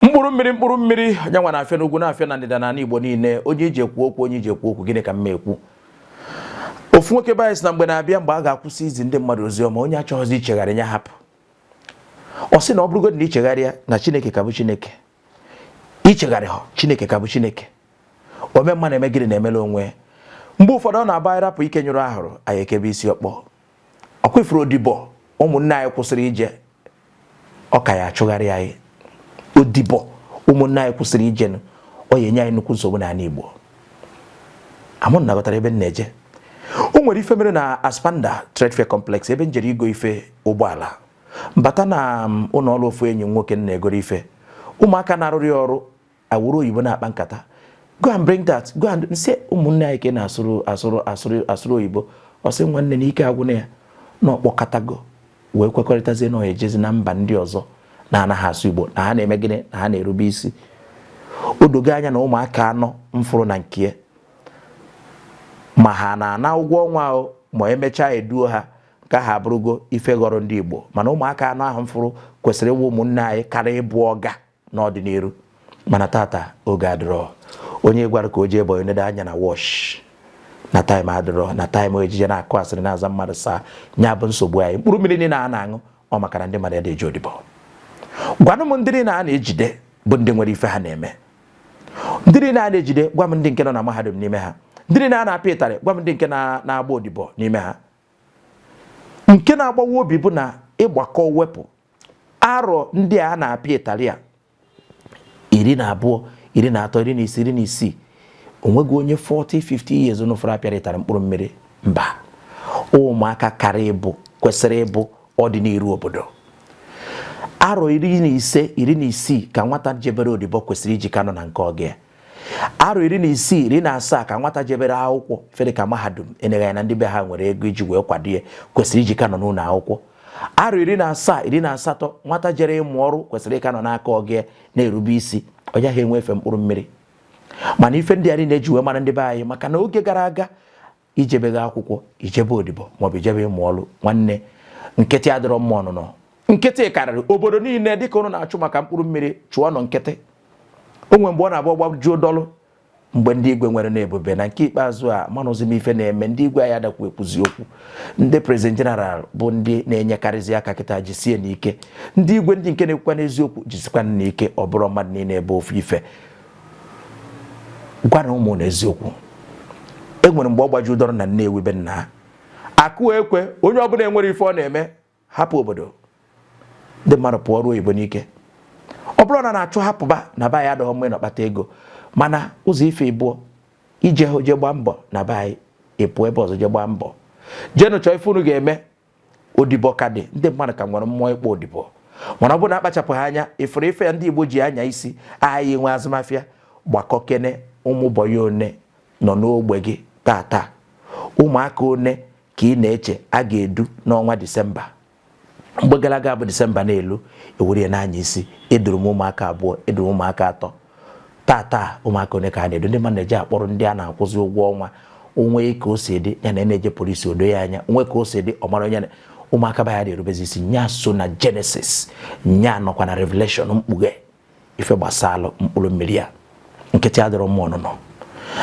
mkpụrụ mmiri mkpụrụ mmiri nya nwa na-afịa n'ugwu na-afịa na ndịda n'ala Igbo niile ọ nya eji ekwu okwu ọ nya eji ekwu okwu gịnị ka m ekwu ofu nwoke be anyị sị na mgbe na-abịa mgbe a ga-akwụsị izi ndị mmadụ ozi ọma onye achọghịzi ichegharị ya hapụ ọ sị na ọ bụrụgodị na ichegharịa na Chineke ka bụ Chineke ichegharịha Chineke ka bụ Chineke ome mma na-eme gịnị na-emela onwe mgbe ụfọdụ ọ na-abụ anyị rapụ ike nyụrụ ahụrụ anyị ekebe isi ọkpọ ọkwa ifuru odibo ụmụnne anyị kwụsịrị ije ọ ka ya-achụgharị anyị odibo ụmụnne anyị kwụsịrị ije ọ ya-enye anyị nnukwu nsogbu n'ala Igbo ama m na aghọtara ebe m na-eje o nwere ife mere na Aspanda Trade Fair Complex ebe m jere igo ife ụgbọala m bata na um, ụlọ ọrụ ofu enyi nwoke m na-egoro ife ụmụaka na-arụrụ ya ọrụ awụrụ oyibo na-akpa nkata go and bring that go and m sị ụmụnne anyị ka ị na-asụrụ oyibo ọ sị nwanne na ike agwụna ya na ọ kpọkọtago wee kwekọrịtazie na ọ ya-ejezi na mba ndị ọzọ na-anaghị asụ igbo na ha na-eme gịnị na ha na-erube isi o dogo anya na ụmụaka anọ m fụrụ na nke ma ha na-ana ụgwọ ọnwa o ma emechaa eduo ha ka ha abụrụgo ife ghọrọ ndị igbo mana ụmụaka anọ ahụ m fụrụ kwesịrị ịwụ ụmụnne anyị karị ịbụ ọga n'ọdịnihu mana tata oge adịrọ onye ị gwara ka o jee boyi o nedo anya na watch na time adịrọ na time eji eje na-akụ asịrị na-aza mmadụ sir nya bụ nsogbu anyị mkpụrụ mmiri niile a na-aṅụ ọ maka na ndị mmadụ adị eje odibo gwanụ m ndị niile a na-ejide bụ ndị nwere ife ha na-eme ndị niile a na-ejide gwa m ndị nke nọ na mahadum n'ime ha ndị niile a na-apịa ịtarị gwa m ndị nke na-agba odibo n'ime ha nke na-agbawa obi bụ na ị gbakọọ wepụ arọ ndị a na-apịa ịtarị a iri na abụọ iri na atọ iri na ise iri na isii onweghị onye 40 50 years ụnụ fụrụ apịara ịtarị mkpụrụ mmiri mba ụmụaka karị ịbụ kwesịrị ịbụ ọdịnihu obodo arọ iri na ise iri na isii ka nwata jebere odibo kwesịrị iji ka nọ na nke ọga ya arọ iri na isii iri na asaa ka nwata jebere akwụkwọ ife dị ka mahadum eneghị anya ndị be ha nwere ego iji wee kwado ya kwesịrị iji ka nọ n'ụlọ akwụkwọ arọ iri na asaa iri na asatọ nwata jere ịmụ ọrụ kwesịrị ịka nọ n'aka ọga ya na-erube isi ọ yaha enwe efe mkpụrụ mmiri mana ife ndị a niile eji wee mara ndị be anyị maka na oge gara aga ijebeghi akwụkwọ ijebe odibo maọbụ ijebe ịmụ ọrụ nwanne nkịtị adịrọ mma ọnụnọ nkịtị karịrị obodo niile dịka ụnụ na-achụ maka mkpụrụ mmiri chụọ ịnọ nkịtị o nwere mgbe ọ na-abụ ọ gbajuo dọlụ mgbe ndị igwe nwere na ebube na nke ikpeazụ amarọzi m ife na-eme ndị igwe anyị adakwa ekwuzi okwu ndị president general bụ ndị na-enyekarịzi aka kịta jisienụ ike ndị igwe ndị nke na-ekwukwanụ eziokwu jisikwanụ ike ọ bụrọ mmadụ niile ebe ofu ife gwara ụmụnna eziokwu e nwere mgbe ọ gbaju dọrọ na Nnewi be nna ha akụ ekwe onye ọbụla enwere ife ọ na-eme hapụ obodo ndị mmadụ pụọ ruo oyibo n'ike ọ bụrọ na m na-achụ ha pụba na be anyị adịghọ mma ịnọ kpata ego mana ụzọ ife ịbụọ ije hụ je gbaa mbọ na be anyị ịpụ ebe ọzọ je gbaa mbọ jeenụ chọọ ife unu ga-eme odibo ka dị ndị mmadụ ka nwere mmụọ ịkpọ odibo mana ọ bụrụ na akpachapụghị anya ị fụrụ ife a ndị igbo ji anya isi anyị nwe azụmafịa gbakọkene ụmụ bọyị one nọ n'ogbe gị tata ụmụaka one ka ị na-eche a ga-edu n'ọnwa disemba mgbe gara aga bụ disemba na-elu e were na-anya isi eduru m ụmụaka abụọ eduru m ụmụaka atọ tata ụmụaka one ka a na-edu ndị mmadụ na-eje akpọrọ ndị a na-akwụzi ụgwọ ọnwa o nwee ka o si dị ya na na-eje polisi o doo ya anya o nwee ka o si dị ọ mara onye ụmụaka be ya na-erubezi isi nya so na jenesis nya nọkwa na revelation mkpughe ife gbasara mkpụrụ mmiri ya nkịtị adịrọ mma ọnụnọ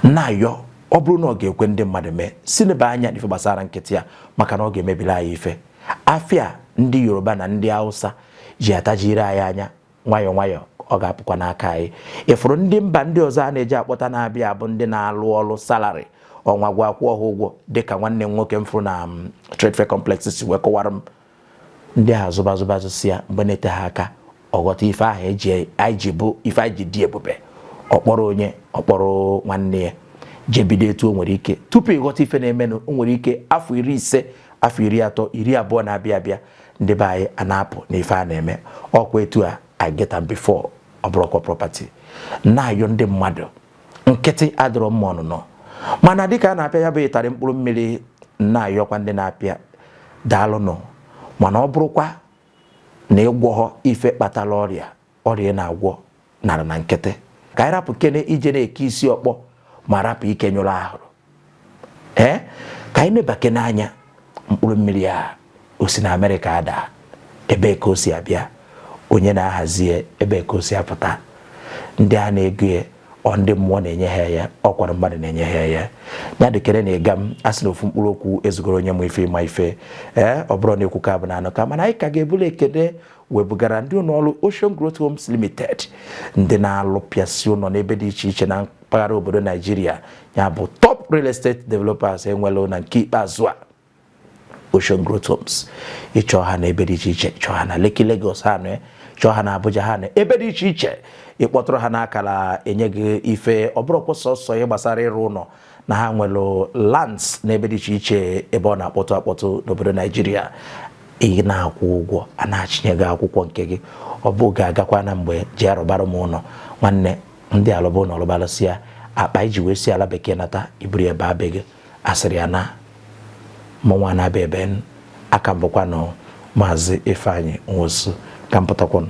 m na-ayọ ọ bụrụ na ọ ga-ekwe ndị mmadụ mee si nebe anya n'ife gbasara nkịtị ya maka na ọ ga-emebili anyị ife afịa ndị yoruba na ndị hausa ji atajiri anyị anya nwayọọ nwayọọ ọ ga-apụkwa n'aka anyị ị fụrụ ndị mba ndị ọzọ a na-eje akpọta na-abịa bụ ndị na-alụ ọrụ salarị ọnwa gwụ a kwụọ ha ụgwọ dịka nwanne m nwoke m fụrụ na um, trade fair complex si wee kọwara m ndị a zụba zụba zụsịa mgbe na-ete ha aka ịghọta ife ahụ anyị ji bụ ife anyị ji dị ebube ọ kpọrọ onye ọ kpọrọ nwanne ya je bido etu o nwere ike tupu ịghọta ife na-emenụ o nwere ike afọ iri ise afọ iri atọ iri abụọ na-abịa abịa ndị be anyị a na-apụ n'ife a na-eme ọkwa etu a I get am before ọ bụrọkwa property m na-ayọ ndị mmadụ nkịtị adịrọ mma ọnụnọ mana dịka a na-apịa ya bụ ịtarị mkpụrụ mmiri m na-ayọkwa ndị na-apịa daalụnụ mana ọ bụrụkwa na ị gwọghọ ife kpatara ọrịa ọrịa ị na-agwọ nara na nkịtị ka anyị rapụkene ije na-eke isi ọkpọ ma rapụ ike nyụrụ ahụrụ ka anyị nebakene anya mkpụrụ mmiri a o si na amerịka ada ebe ka o si abịa onye na-ahazi ebe ka o si apụta ndị a na-ego ya ọ ndị mmụọ na-enye ha ya ọkwara mmadụ na-enye ha ya ya dịkere na aga m asị na ofu mkpụrụ okwu ezugoro onye ma ife ịma ife ee ọ bụrọ na ekwuka bụ na anụka mana anyị ka ga-ebulu ekene wee bugara ndị ụlọọrụ Ocean Growth Homes Limited ndị na-alụpịasị ụlọ n'ebe dị iche iche na mpaghara obodo Naijiria ya bụ top real estate developers e nwelụ na nke ikpeazụ a Ocean Growth Homes ị chọọ ha na ebe dị iche iche chọọ ha na Lekki Lagos ha nọ chọọ ha na Abuja ha nọ ebe dị iche iche ị kpọtụrụ ha n'akara e nye gị ife ọ bụrọkwa sọsọ ihe gbasara ịrụ ụlọ na ha nwere lands n'ebe dị iche iche ebe ọ na-akpọtụ akpọtụ n'obodo naijiria ị na-akwụ ụgwọ a na-achịnye gị akwụkwọ nke gị ọ bụ ga-agakwa na mgbe ji arụbara m ụlọ nwanne ndị alụba ụlọ ọ lụba lụsịa akpa i ji wee si ala bekee nata i buru ebe abe gị asịrị ya na mụnwa na-abịa ebe a ka m bụkwanụ maazị Ifeanyi Nwosu ka m pụtakwanụ